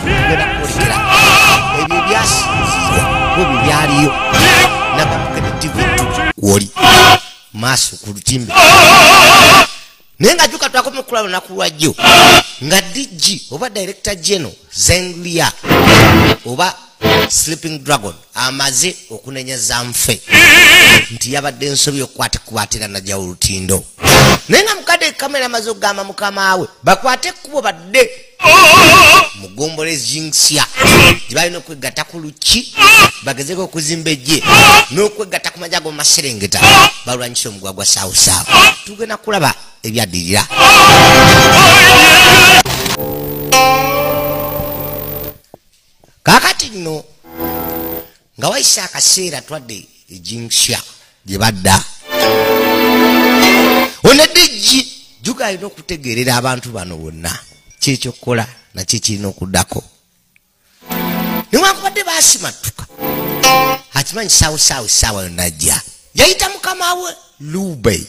tugenda kukulekera ebyo ebyasinzibwa bwebyo byaliyo nabakugenda tv kwoli maaso ku lutimbe naye nga juka twakoma okukula lunaku lwajjo nga dg oba director geno zenlia oba sleeping dragon amaze okunenya zanfe nti yabadde nsobi okukwatikwatira naja olutindo naye nga mukadde kamera amaze okugamba mukamaawe bakwate ekkubo badde mugombole zingsya gyebalina okwegatta ku lukki bagezeko okuzimba ejje n'okwegatta ku maja gomumaserengeta balwanyisa omugwa gwa saawusaawu tugenda kulaba ebyaddirira kakati nno nga wayise akaseera twadde ejinsya gye badda onedijji juga alina okutegeerera abantu bano bonna kyekyokukola nakyo kirina okuddako newankubadde basimattuka akimanyi saawo saawo saawa yonajja yayita mukama we lube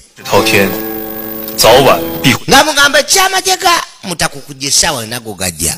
nga mugamba ekyamajega mutakukujja esaawa yonago gajja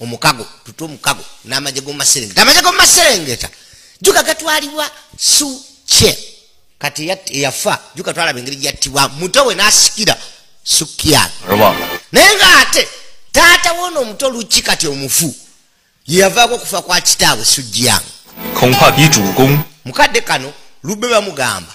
omukago tuta omukago n'amagye gomumaserengeta amagye gomumaserengeta juka gatwalibwa suce kati eyafa juka twalaba engeri gyattibwa muto we n'asikira sukian naye ng'ate taata woona omuto luki kati omufu yeyavaako okufa kwa kitaabwe sujiyang mukadde kano lubbe bamugamba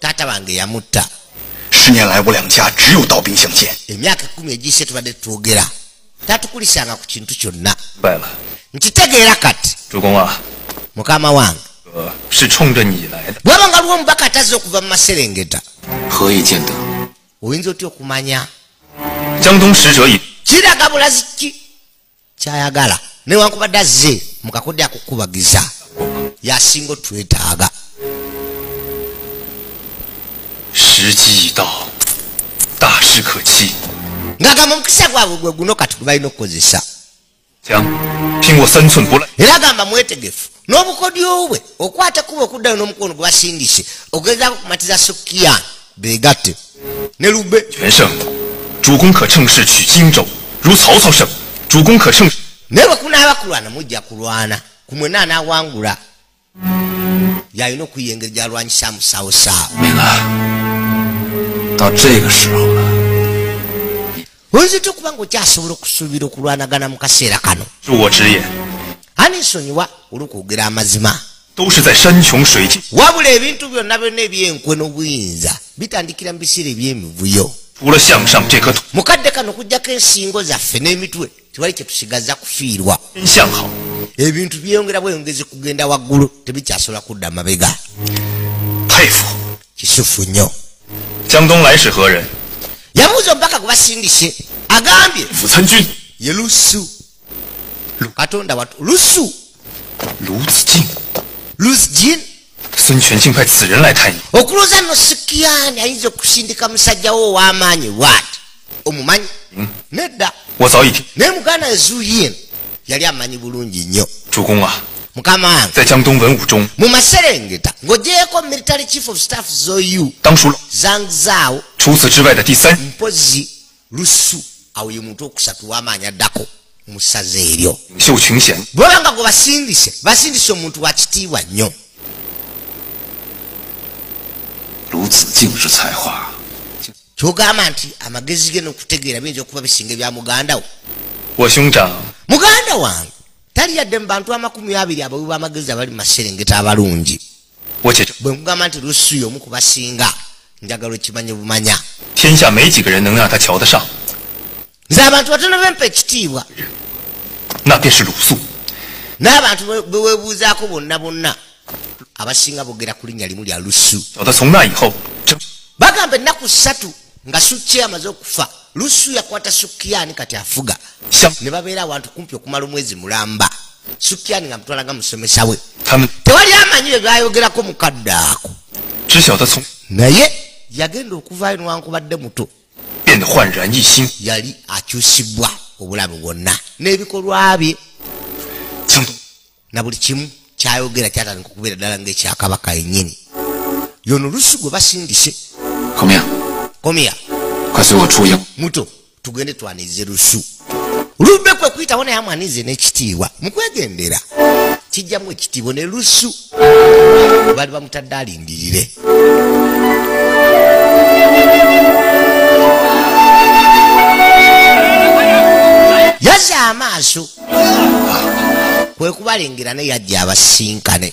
taata wange yamutta emyaka ekumi egiyise tubadde twogera tatukulisanga ku kintu kyonna nkitegeera kati mukama wange bwaba nga lwo omubaka atazze okuva mu maserengeta oyinza otya okumanya kiraga bulazi ki kyayagala newankubadde azze mukakodde akukubagiza yasinga otwetaaga ngagamba omukisa gwabwe gwe guno kati gwebalina okukozesa era gamba mwetegefu n'obukodyo bwe okwata kuba okuddayo n'omukono gwe basindise ogezaako kumatiza sukiya begatte ne lube naye bwekunaaba kulwana mujja kulwana kumwe naanawangula yalina okuyiya engeri gyalwanyisa musawo saawa oyinzitya okuba nga okyasobola okusuubira okulwanagana mu kaseera kano anisonyiwa olwokwogera amazima wabula ebintu byonna byonna ebyenkwe n'obuyinza bitandikira mu biseera eby'emivuyo mu kadde kano kujjako ensingo zaffe n'emitwe tewali kye tusigaza kufiirwa ebintu byeyongera bweyongezi kugenda waggulu tebikyasobola kudda mabega kisufu nnyo yabuuza obubaka gwebasindise agambye ye lusu katonda watu lusu luzjin okulooza nosikiyani ayinza okusindika musajjawo ow'amaanyi bwati omumanyi hmm. nedda naye muganda ezuyin yali amanyi bulungi nnyo mukama wange mu maserengeta ng'ogyeko military chief of staff zoyu zangzao mpozi lusu awo ye muntu okusatu wamaanyi addako musaza eryo bwaba nga gwe basindise basindise omuntu wa kitiibwa nnyo kyogamba nti amagezi ge nokutegeera biyinza okuba bisinga ebya mugandawo muganda wange tali yadde mu bantu amakumi abiri abawi bamagezi abali mumaserengeta abalungi bwe mugamba nti lusuyo omu kubasinga njagala okimanye bumanya nze abantu batono bempa ekitiibwa n'abantu bewebuuzaako bonna bonna abasinga bogera ku linnya limu lya lusu bagamba ennaku ssatu nga sukki amaze okufa lusu yakwata sukiyani kati afuga ne babeera awantu kumpi okumala omwezi mulamba sukiyani nga mutwalaga musomesa we tewali amanyi bye byayogerako mukadde ako naye yagenda okuvaayo newankubadde muto yali akyusibwa obulamu bwonna n'ebikolwa bye na buli kimu kyayogera kyatandika okubeera ddala ngaekyakabaka yennyini yono olusi gwe basindise komya muto tugende twanirize lusu lumbe kwe kuyitawo naye amwanize n'ekitiibwa mukwegendera kijjamu ekitiibwa ne lusu bali bamutadde alindirire yaza amaaso kwe kubalengera naye yajja abasinkane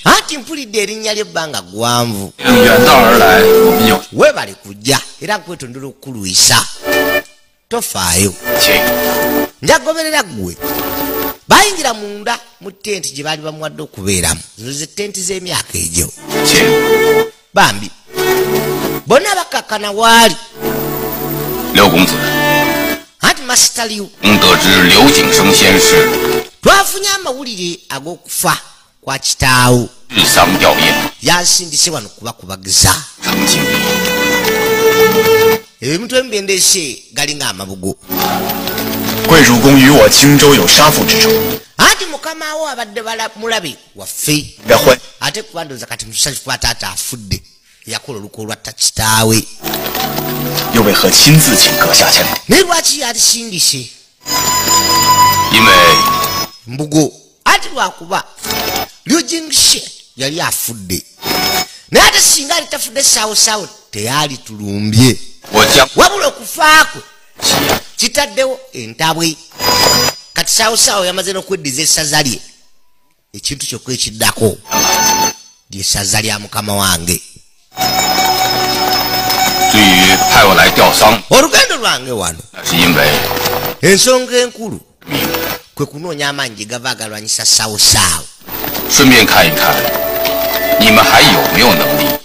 anti mpulidde erinnya ly'ebbanga ggwanvu webale kujja era nkwetondera okukulwisa tofaayo njagoberera ggwe bayingira munda mu tenti gye baali bamuwadde okubeeramu zino ze tenti z'emyaka egyo bambi bona bakakana waali anti masitaliwo twafunye amawulire ag'okufa kwa kitaawo yansindise wano kubakubagiza ebimutwe mubendese galinga amabugo anti mukamawo abadde mulabe waffe ate kuba ndowooza kati musanyufu kuba taata afudde yakola olukwa olwatta kitaawe naye lwaki yalisindise mbugo anti lwakuba lyojingise yali afudde naye ate singa ali tafudde saawosaawo teyaali tulumbye wabula okufaakwe kitaddewo entabwe kati saawosaawo yamaze n'okweddiza essaza lye ekintu kyokka ekiddako lyesaza lya mukama wange olugendo lwange wano ensonga enkulu kwe kunoonya amaanyi gye gava agalwanyisa sawusaawu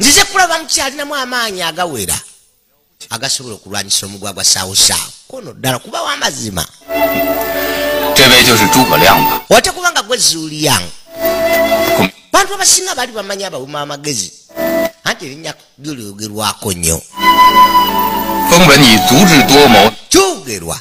nzize kulaba mukyalinamu amaanyi agawera agasobola okulwanyisa omugwa gwa sawusawo kono ddala kubawo amazima otakuba nga gwe zuuliyang bantu abasinga bali bamanyi abawuma amagezi anti erinnya lyogerwako nnyo kyogerwa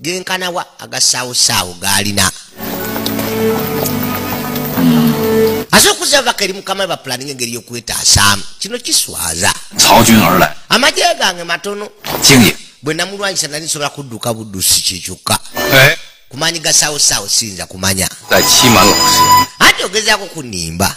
genkanawa agasaawosaawo gaalina asobola okuza ababaka eri mukama bapulaninga engeri yokwetaasaamu kino kiswaza amagye gange matono bwe namulwanyisa nali nsobola kudduka buddusi kyekyokka eh? kumaanyi gasaawosaawo siyinza kumanya ati ogezaako kunimba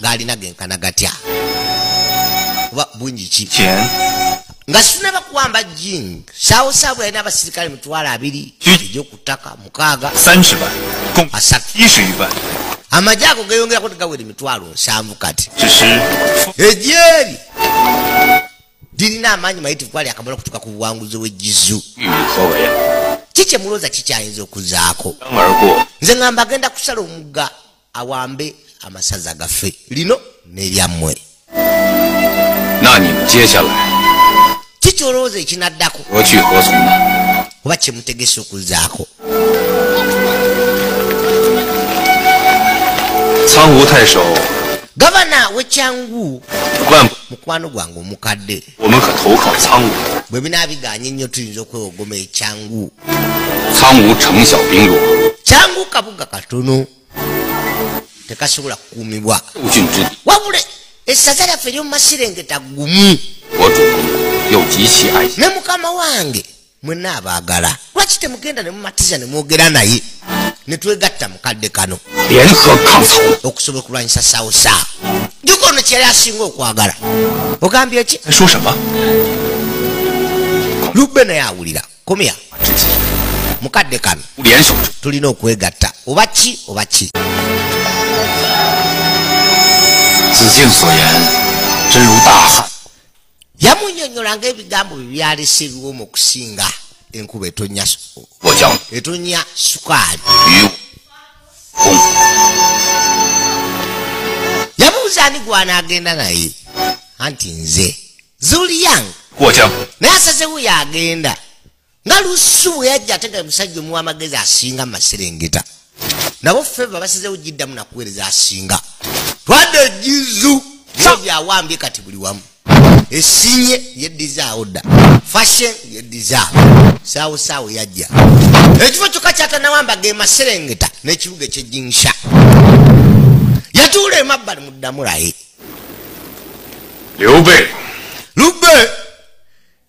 gaalina genkana gatya kuba bungi ki nga sinaba kuwamba jing saawo saabwe yalina abasirikale mitwalo abiri egyokuttaka mukaaga asatu amagye ago geyongerako tegawera emitwalo nsanvu kati egyeri lirina amaanyi mayitivu kwali akamala okutuuka ku buwanguzi w'egizu ki kye mulooza kikyayinza okuzaako nze ngamba agenda kusala omugga awambe amasaza gaffe lino neryammwe kikyolowooza ekinaddako oba kyemutegese okuzaako gavana wekyangu mukwano gwange omukadde bwe binaabiganye nnyo tuyinza okwewogoma ekyangu kyangu kabuga katono tekasobola kukuumibwa wabula essaza lyaffe eryomumasirengeta gumu ne mukama wange mwena abagala lwaki temugenda nemumatiza nemwogera naye netwegatta mukadde kano okusobola okulwanyisa sausa juka ono kyeyali asinga okwagala ogambye ki lubbe naye awulira komya mukadde kano tulina okwegatta oba ki oba ki yamunyonyolanga ebigambo bye byalese ebiwoma okusinga enkuba etonya etonya sukaali yamubuza ani gwanaagenda naye anti nze zuliang naye asazewo yagenda nga lusi bwe yajja ate nga musajja omuwa amagezi asinga maserengeta nabo feva basizewo giddamu nakuweereza asinga twade ejizu byo byawambye kati buli wamu esinye yeddizaawo dda fashion yeddizaawo saawo saawo yajja ekifo kyokka kyatanawamba ge maserengeta n'ekibuga ekyejinsha yatuula emabbali muddamu laye lube lube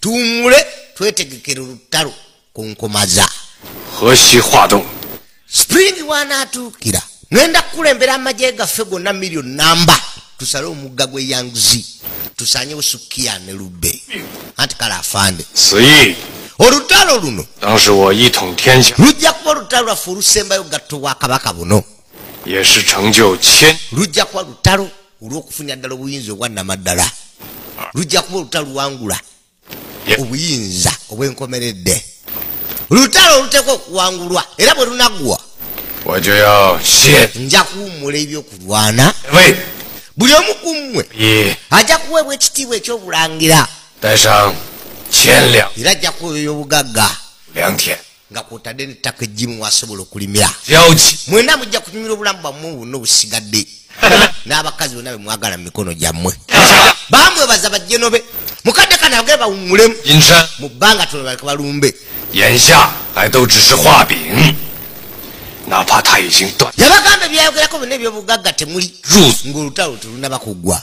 tuwumule twetegekera olutalo ku nkomaza spring wanaatuukira ngenda kukulembera amagye gaffe gonna million namba tusale omugga gwe yangzi tusanyewo sukiya ne lubbe anti kale afande olutalo luno lujja kuba olutalo lwaffe olusembayo gatto bwa kabaka buno lujja kuba lutalo olw'okufunira ddala obuyinza obwannamaddala lujja kuba olutaluwangula obuyinza obwenkomeredde olutalo oluteekwa okuwangulwa era bwe lunaggwa nja kuwummula ebyokulwana buli omu ku mmwe ajja kuweebwa ekitiibwa ekyobulangira era ajja kuweebwa ebyobugagga nga kwotadde nettaka ejjimu wasobola okulimira mwena mujja kunyumira obulamu bwammwe bwonna obusigadde n'abakazi bonna bemwagala mu mikono gyammwe bamwebaza bajjenobe mukadde kana agee bawumulemu mu bbanga tono baleka balumbe yabagamba ebyayogerako byonna ebyobugagga temuli ngaolutalo telunaba kuggwa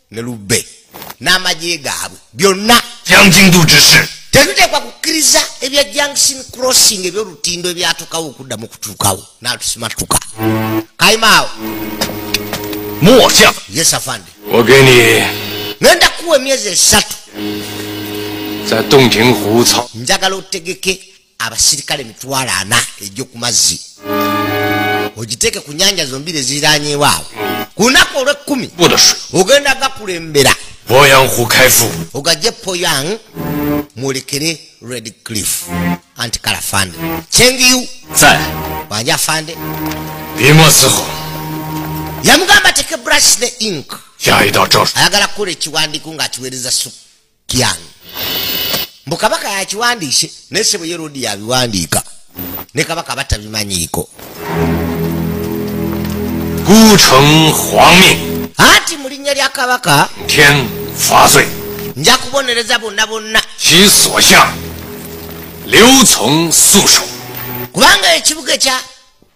ne lubbe n'amagye gaabwe byonna tetuteekwa kukkiriza ebya junction crossing ebyolutindo ebyatukawo okuddamu okutuukawo natusimatuka kaimaawo yesafande ngenda kuwa emyezi esatu njagala otegeke abasirikale mitwalo ana ejjo ku mazzi ogiteeke ku nyanja zombiri eziriranyewo awo ku lunaku olwekkumi ogenda gakulembera ogajje poyang mwolekere red cliff anti kala fande chengiyu wanja fande yamugamba teke brush ne ink ayagala kukola ekiwandiiko ng'akiweereza suku kyange mbu kabaka yakiwandiise naye sebo ye rodi yabiwandiika ne kabaka batabimanyiiko anti mu linnya lya kabaka nja kubonereza bonna bonna kubanga ekibuga ekya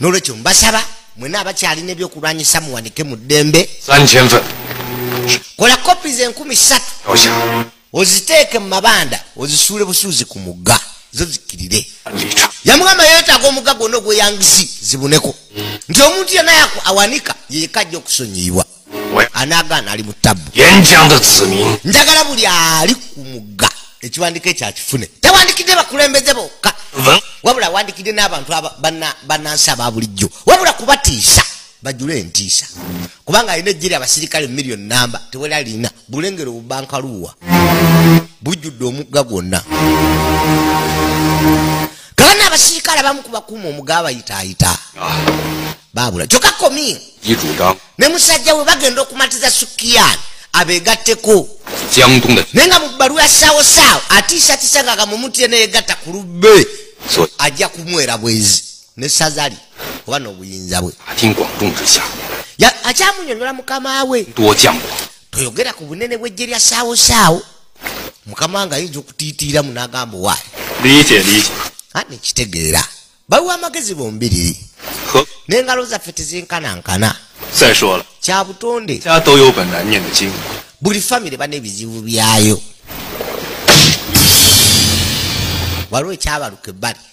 nolwekyo mbasaba mwena abakyalina ebyokulwanyisa muwanike mu ddembe kola kopi ze enkumi satu oziteeke mu mabanda ozisuule busuuzi ku mugga zo zikirire yamugamba yetaaga omugga gwonna ogweyangisi zibuneko nti omuntu yena awanika yekajja okusonyiyibwa anagaana ali mu tabu njagala buli ali ku mugga ekiwandiiko ekyo akifune tawandikidde bakulembeze bokka wabula awandikidde n'abantu banansi aba bulijjo wabula kubatiisa bajule entiisa kubanga alina ejjeri abasirikale million namba tewali alina bulengero bubankaluuwa bujjudde omugga gwonna kabana abasirikale abamu kubakuuma omugaba yitaayita babula kyoka komi ne musajja we bagenda okumatiza sukiyani abegatteko naye nga mu bbalu ya saawo saawo atiisatiisa nga gamumutire neyegatta ku lubbe ajja kumwera bwezi ne sazali oba n'obuyinza bwe akyamunyonyola mukama we toyogera ku bunene bw'ejje lya saawo saawo mukama nga ayinza okutiitiira mu n'agamba owaayi liyite liyite ani kitegeera baliwo amagezi bombiriri n'engalo zaffe tezinkanankana kya butonde buli famire bana ebizibu byayo waliwo ekyabaluka ebbali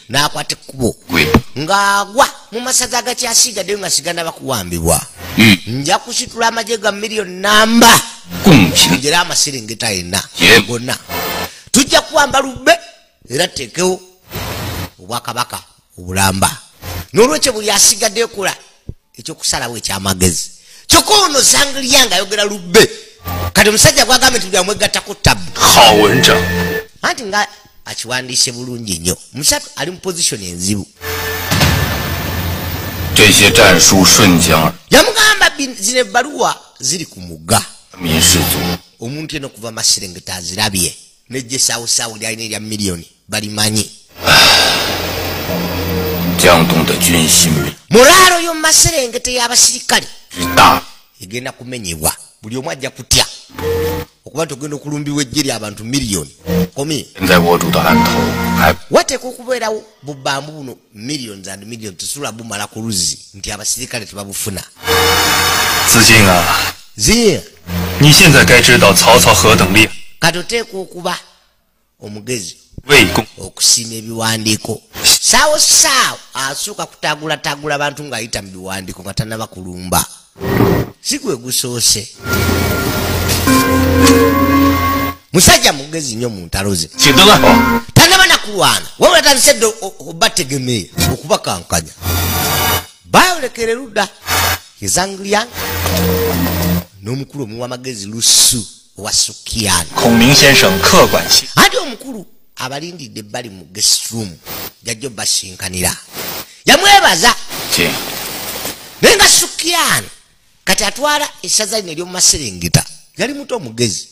n'akwata ekkubo ng'agwa mu masaza agakyasiigaddeyo nga sigana bakuwambibwa hmm. nja kusitula amagye ga miliyoni namba njera amasiringita yenna gonna tujja kuwamba lubbe era tuteekewo obwakabaka obulamba n'olwekyo buli asigadde ekola ekyokusalawo ekyamagezi kyokka ono zanglia nga ayogera lubbe kati omusajja gwagambye nti byamwegattako tabu anti nga akiwandiise bulungi nnyo musatu ali mu pozisioni enzibu yamugamba zino ebbaluwa ziri ku mugga omuntu eno okuva maserengeta azirabye nejjesawusawu lyalina erya miliyoni balimanyi mulaalo yomumaserengete y'abasirikale egenda kumenyebwa buli omu ajja kutya okuba nti ogenda okulumbibwa ejje ry abantu miliyoni komi wateeka okubeerawo bubambu buno millions and million tesobola bumala ku luzzi nti abasirikale tebabufuna kati oteeka okuba omugezi okusiima ebiwandiiko saawo saawo asooka kutagulatagula abantu ng'ayita mu biwandiiko nga tanaba kulumba si gwe gusoose musajja mugezi nnyo mu ntalo ze tanaba nakulwana wabula tandise dde obategemeye okubakankanya bayolekere ludda ezanglian n'omukulu omuwa amagezi lusu wa sukiyani ati omukulu abalindidde bali mu guest room jajjo basinkanira yamwebaza naye nga sukiyani kati atwala esaza lino eryomumaserengeta yali muto omugezi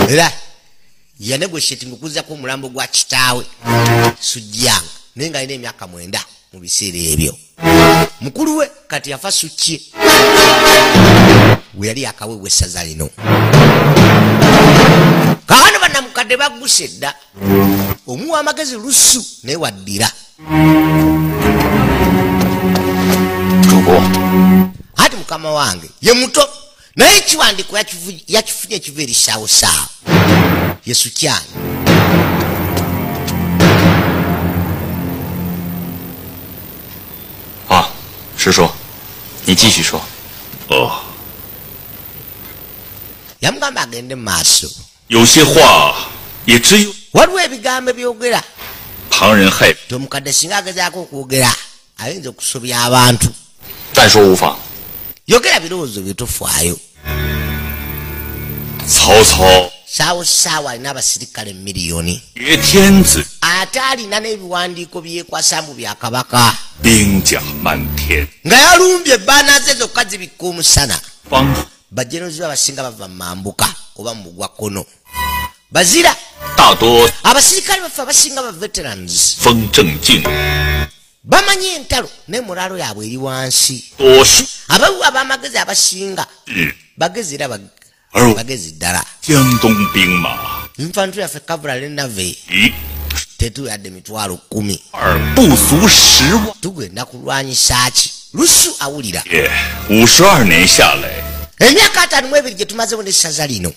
era yanegoshetinga okuzako omulambo gwa kitaawe sujjanga naye nga alina emyaka mwenda mu biseera ebyo mukulu we kati yafa sukye weyali akawewa essaza lino kaano banamukadde baggusa edda omuwa amagezi lusu naye waddira ati mukama wange ye muto naye ekiwandiiko yakifunye ekiva eri saawo saawo yesu kyange ah, oh. yamugamba agende mu maaso waliwo ebigambo ebyogera tomukadde singa agezaako okwogera ayinza okusobya abantu yogera birowoozo byetufaayo saawo saawa alina abasirikale miliyoni ate alina n'ebiwandiiko byekwasa mbu bya kabaka nga yalumbye ebaanaze zokka zibikka omusana bajenozi be abasinga bava mu mambuka oba mu mugwa kkono bazira abasirikale baffe abasinga ba veterans bamanyi entalo naye mulaalo yaabwe eri wansi abawu abamagezi abasinga eh. bagezi era bagezi ddala nfantu yaffe kavula lenave eh. tetuyadde mitwalo kumi tugenda kulwanyisa ki lusu awulira eh, emyaka ataano mu ebiri gye tumazewo n'essaza lino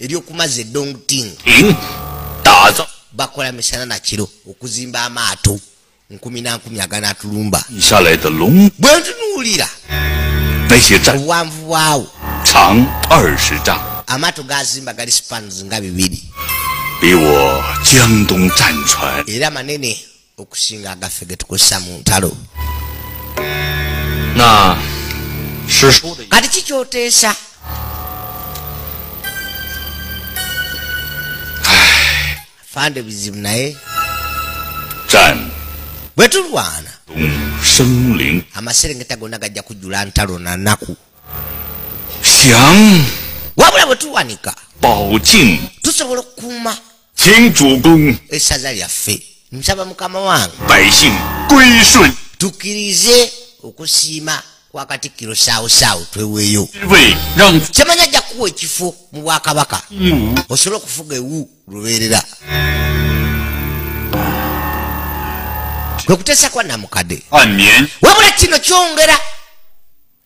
ebyokumaza edongting bakola misana nakiro okuzimba amaato nkumi nankumi aganatulumba bwentunuulira obuwanvu bwawo amaato gazimba gali spans nga bibiri era manene okusinga agaffe getukozesa mu ntalo kati kikyoteesa fande bizibu naye bwe tulwana amaserengeta gonna gajja kujjula ntalo na naku wabula bwe tuwanika tusobola okukuuma esaza lyaffe nsaba mukama wange tukirize okusiima kwa katikkiro saawusaawu tweweeyo kyemanya ajja kuwa ekifo mu bwakabaka mm. osobole okufuga ewu lubeerera kwe kuteesa kwa namukadde wabula kino kyongera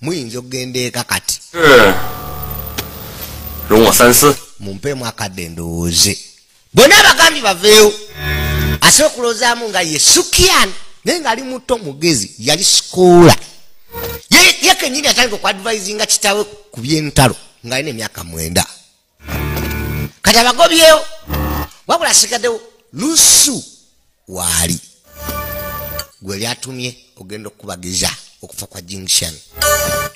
muyinza okugenda eka kati mumpeemu akadde ndowooze bonna abagambye baveewo asobola okulowoozamu nga ye sukian naye ngaali muto mugezi yali sikoola ye kenyini atandika okuadvisinga kitawe ku byentalo ng'alina emyaka mwenda kati abagobyewo wabula asigaddewo nusu waali gwe lyatumye ogenda okukubagiza okufa kwa jinction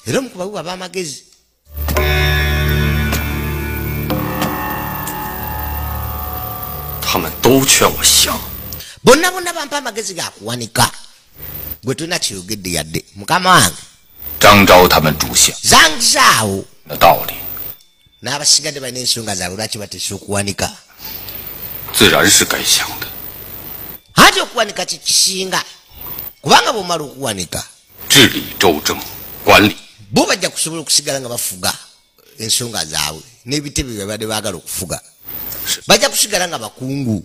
era omukubabuba bamagezi bonna bonna bampa amagezi gakuwanika gwe tolina kyeyogedde yadde mukama wange zangizaawo n'abasigadde balina ensonga zaabwe lwaki batesa okuwanika anti okuwanika kyekisinga kubanga bwomala okuwanika bo bajja kusobola okusigala nga bafuga ensonga zaabwe n'ebitebe byebadde baagala okufuga bajja kusigala nga bakungu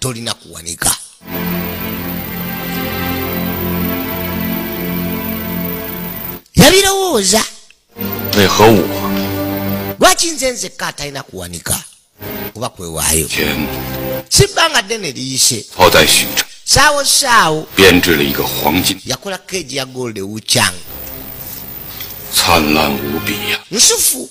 tolina kuwanika yabirowooza lwaki nze nzekka atalina kuwanika kuba kwewaayo sibbanga ddene liyise saawo saawo yakola keegi ya gold ewucang nsufu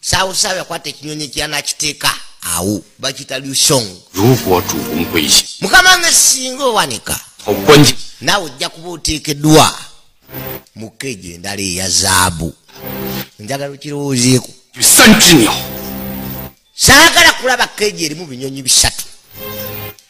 sawusawo yakwata ekinyonyi kyanakiteeka awo bakita lusong mukama nga singa owanika naawe ojja kuba oteekeddwa mukeejo endala eya zaabu njagala okirowoozeeko saagala kulaba keejo erimu binyonyi bisatu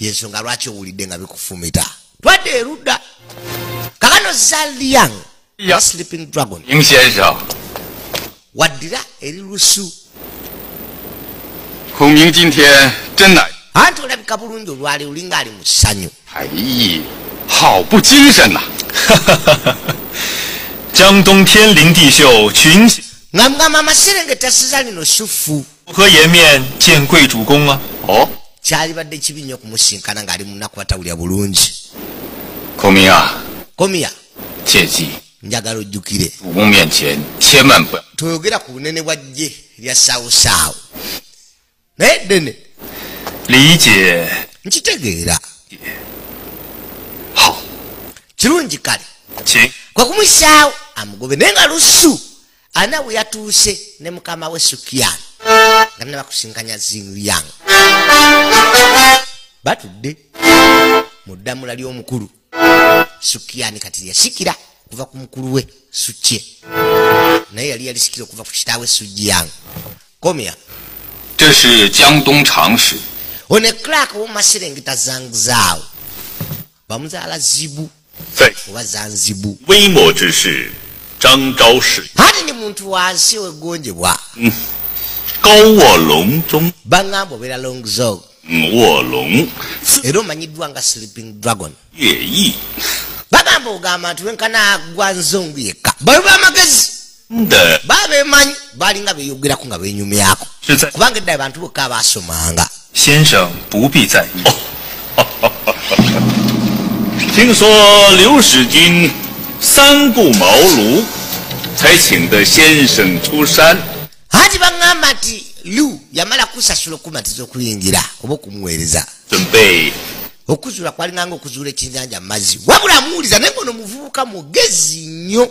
yensonga lwaki owulidde nga bikufumita twadde erudda kakano zaliang sleeping dragon waddira eri lusu anti olabika bulungi olwali olinga ali mu ssanyu nga mugamba amaserengeta siza lino sufu kyalibadde kibi nnyo okumusinkana ng'ali munaku batawulira bulungi komiya njagala ojjukire toyogera ku bunene bwa jje lya saawusaawu naye ddene nkitegeera kirungi kale kwe kumusaawo amugobe naye nga lusu ana we yatuuse ne mukama we sukiyan nga nina bakusinkanya zingyang batudde mu ddamula ly'omukulu sukiyani kati yasikira okuva ku mukulu we sukye naye yali yalisikira okuva ku kitaawe sujiyang komya one clark womaserengeta zangzaawo bamuzaala zibu oba zanzibu ate ne muntu wansi wegonjebwa mm. bangamba obeera long zog mm, era omanyiddwa nga sleeping dragon bagamba ogamba nti wenkana gwa nzongu yekka bayo bamagezi baba bemanyi balinga beyogerako nga benyumyako kubanga edda abantu bokka abasomanga anti baŋamba nti lu yamala kusasula okumatiza okuyingira oba okumuweereza okuzuula kwalinganga okuzuula ekyenjanja mu mazzi wabula amuwuliza naye ngono muvubuka mugezi nnyo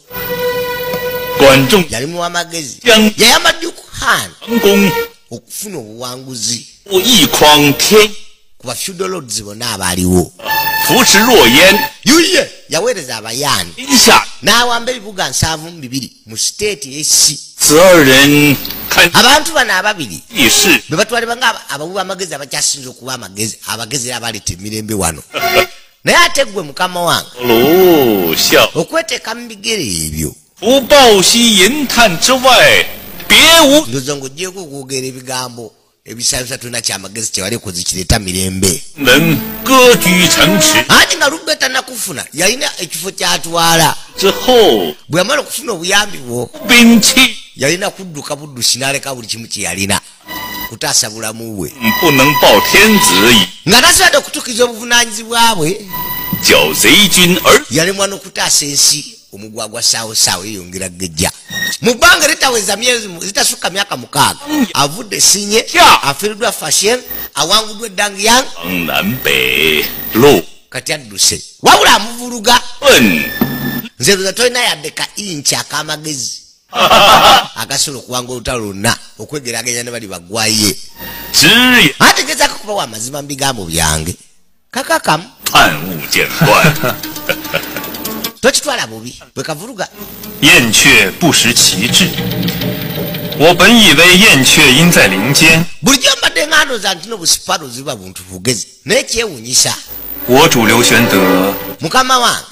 yali muwa magezi yayamba dukhan okufuna obuwanguzi kuba feudal lords bonna abaaliwo yuye yaweereza abayani n'awamba ebibuga nsanvu mu bibiri mu siteeti esi abantu bano ababiri bebatwalibwa nga abawi b'amagezi abakyasinza okuba amagezi abagezi era abaleeta emirembe wano naye ate gwe mukama wange okweteka mu bigere ebyo ndoza nga ojjeko okwogera ebigambo ebisabisa tulina kyamagezi kyewali kuzikireta mirembe anti nga lubbe tanakufuna yalina ekifo kyatwala bwe yamala okufuna obuyambi bwo yalina kudduka buddusi naleka buli kimu kyeyalina kutaasa bulamu bwe nga tasobodde okutuukiza obuvunaanyizibwa bwe yalemwa n'okutaasa ensi omugwagwa saawosaawo yeyongera gejja mu bbanga eritaweza myezi zitasukka myaka mukaaga avudde sinye afiiriddwa fashion awanguddwa eddang yang kati adduse wabula amuvuluga nze luza tolina yadde ka inki ak'amagezi agasobola okuwanga olutalo lwonna okwegeraganya ne bali bagwaye ategezako kubawo amazima mu bigambo byange kakakamu tokitwala bubi bwe kavuluga bulijjo mbadde ng'andoza nti no busipalo ziba buntu bugezi naye kyewunyisa mukama wange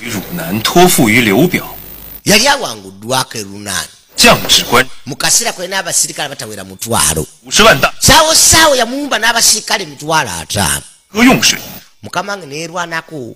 yali awanguddwako erunan mu kaseera kwe n'abasirikale batawera mutwalo saawo saawo yamuwumba n'abasirikale emitwalo ataano mukama wange neerwanako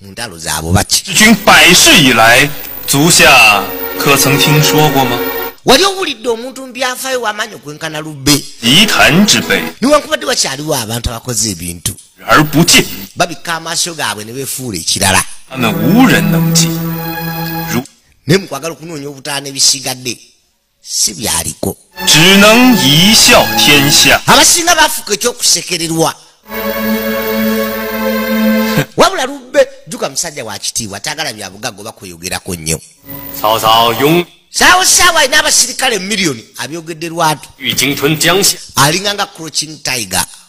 mu ntalo zaabo baki wali owulidde omuntu mubyafaayo wamaanyi okwenkana lubbe niwankubadde wakyaliwo abantu abakoze ebintu babikka amaaso gaabwe ne befuula ekirala naye mukwagala okunoonya obutaano ebisigadde si byaliko abasinga bafuka ekyokusekererwa wabula lubbe juka musajja wakitiibwa tagala byabugaga oba kweyogerako nnyo saawo saawo alina abasirikale miliyoni abyogedde lwatu alinga nga croching tiger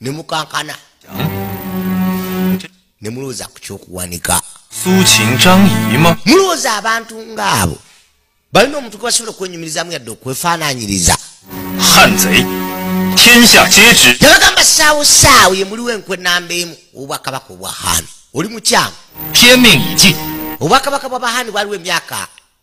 ne mukankana ne mulowooza ku kyokuwanika mulowooza abantu ng'abo balina omuntu gwe basobola okwenyumirizamu yadde okwefaananyiriza yabagamba saawo saawo ye muliwo enkwe namba emu obwakabaka obwa haani oli mukyamu obwakabaka bwa bahaani bwaliwo emyaka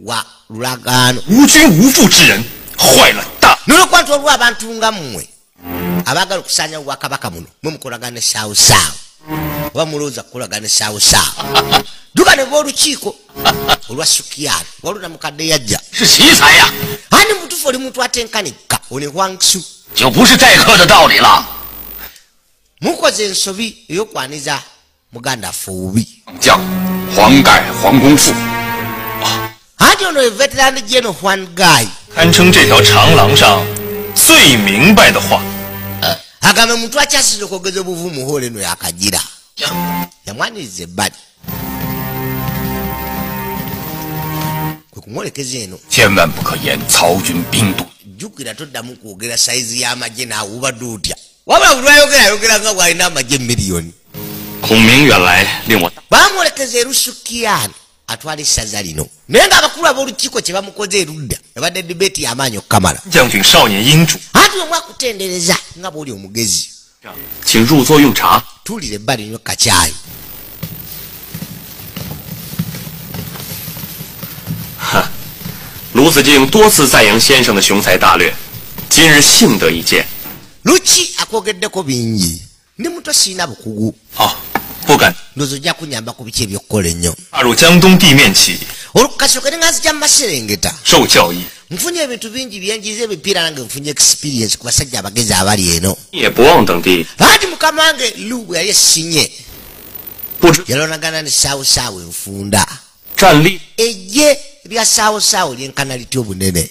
wa lulagaano nolwokwanta olwa abantu nga mmwe abaagala okusaanyawo bwakabaka muno mwe mukolagana esaawosaawo oba mulowooza kukolagana esaawosaawo duka ne b'olukiiko olwa sukiyani waluna mukadde yajja ani mutufu oli muntu atenkanikka one hwangsu mukoze ensobi eyokwaniza muganda affe obubi anti ono ye veteran geno hwan guy agamba omuntu akyasiza okwogeza obuvumu hoole eno yakagira yamwaniriza ebbali kumwolekeza eno jjukira toddamu kwogera sayizi y'amagye naawubadde otya wabula buli ayogera ayogera nga bw'alina amagye miliyoni bamwolekeza erusukiyani atwala essaza lino naye nga abakulu ab'olukiiko kye bamukoze erudda ebadde dibeeti y'amaanyi okukamala anti omu akutendereza nga bwoli omugezi tuulira ebbali nyo kacaayi luki akwogeddeko bingi ndi muto sirina bukugu ndozo ojja kunyamba ku biki ebyokukola ennyo olukukasooka nenga nzija mu maserengeta nfunye ebintu bingi byenjiza emipiira nange nfunye experience ku basajja abagezi abali eno bangi mukama wange lu bwe yali esinye yalonagana ne saawusaawo enfunda ejje lya saawusaawo lyenkana litya obunene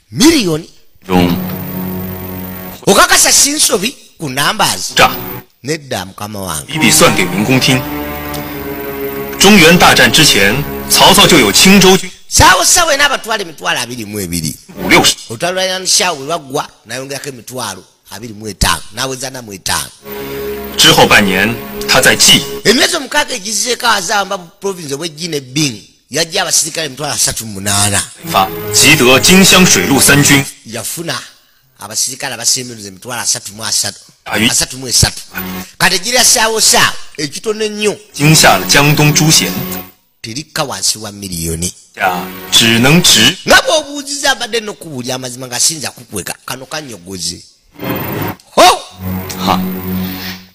million okakasa sinsobi ku numbers nedda mukama wange sawo sawe n'abatwala emitwalo abiri mu ebiri otalulanishawo bwe baggwa nayongerako emitwalo abiri mu etaano naweza namu etaano emyezi omukaaga egizeeko azamba province obwejji ne bing yajja abasirikale emitwalo asatu mu munaana yafuna abasirikale abasembenuza emitwalo asatu mu asatu asatu mu esatu kati gira saawo saawo ekitono ennyo terikka wansi wa miliyoni nga bwobuuziza abadde nokubuulya amazima nga sinza kukweka kano kanyogoze ho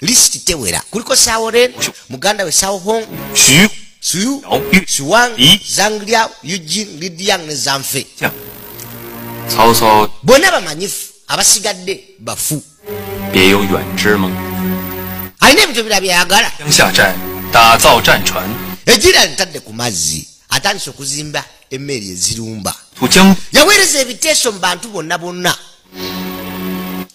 list tewera kuliko sawo ren muganda we sawo hong suyu suwang zanglia eugin lidiang ne zanfe bonna bamanyifu abasigadde bafu alina ebintu bira byayagala egira ntadde ku mazzi atandise okuzimba emmeeri ezirumba yaweereza ebiteeso mu bantu bonna bonna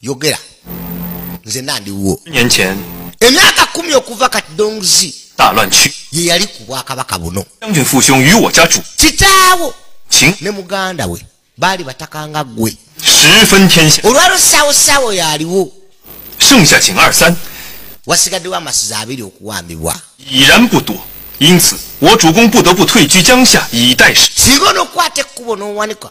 yogera nze nandiwo emyaka kumi okuva kati dongzi ye yali ku bwakabaka buno kitaawo ne muganda we baali bataka nga ggwe olwalo saawo saawo yaliwo wasigaddewo amasiza abiri okuwambibwa singa onokukwata ekkubo n'owanika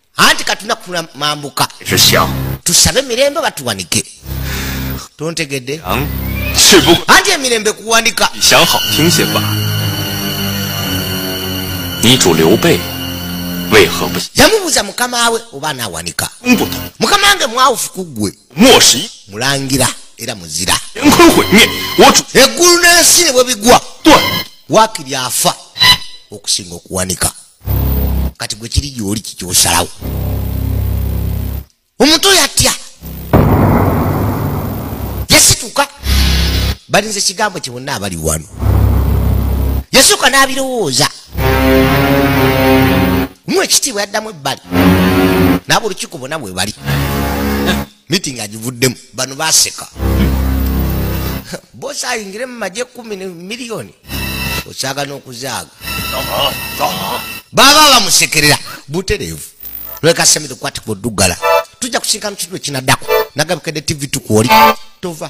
anti katuna kula mambuka tusabe mirembe batuwanike tontegedde anti emirembe kuwanika yamubuuza mukama we oba anawanika mukama wange mwawufu ku ggwe mulangira era muzira eggulu n'ensi ne bwe bigwa wakiri afa okusinga okuwanika kati gwe kiri gyoli kikyosalawo omuntu oyo atya yasituka balinza ekigambo kye bonna abali wano yasooka n'abirowooza mu ekitiibwa yaddamu ebbali n'aba olukiiko bonna bwe bali meeting agivuddemu bano baseka bosi ayingire mu magye kumi ne miliyoni osaaga n'okuzaaga baba bamusekerera butereevu lwekasemire kwatiko dugala tujja kusinkana kitu ekinaddako nagabikedde tv tukuoli tova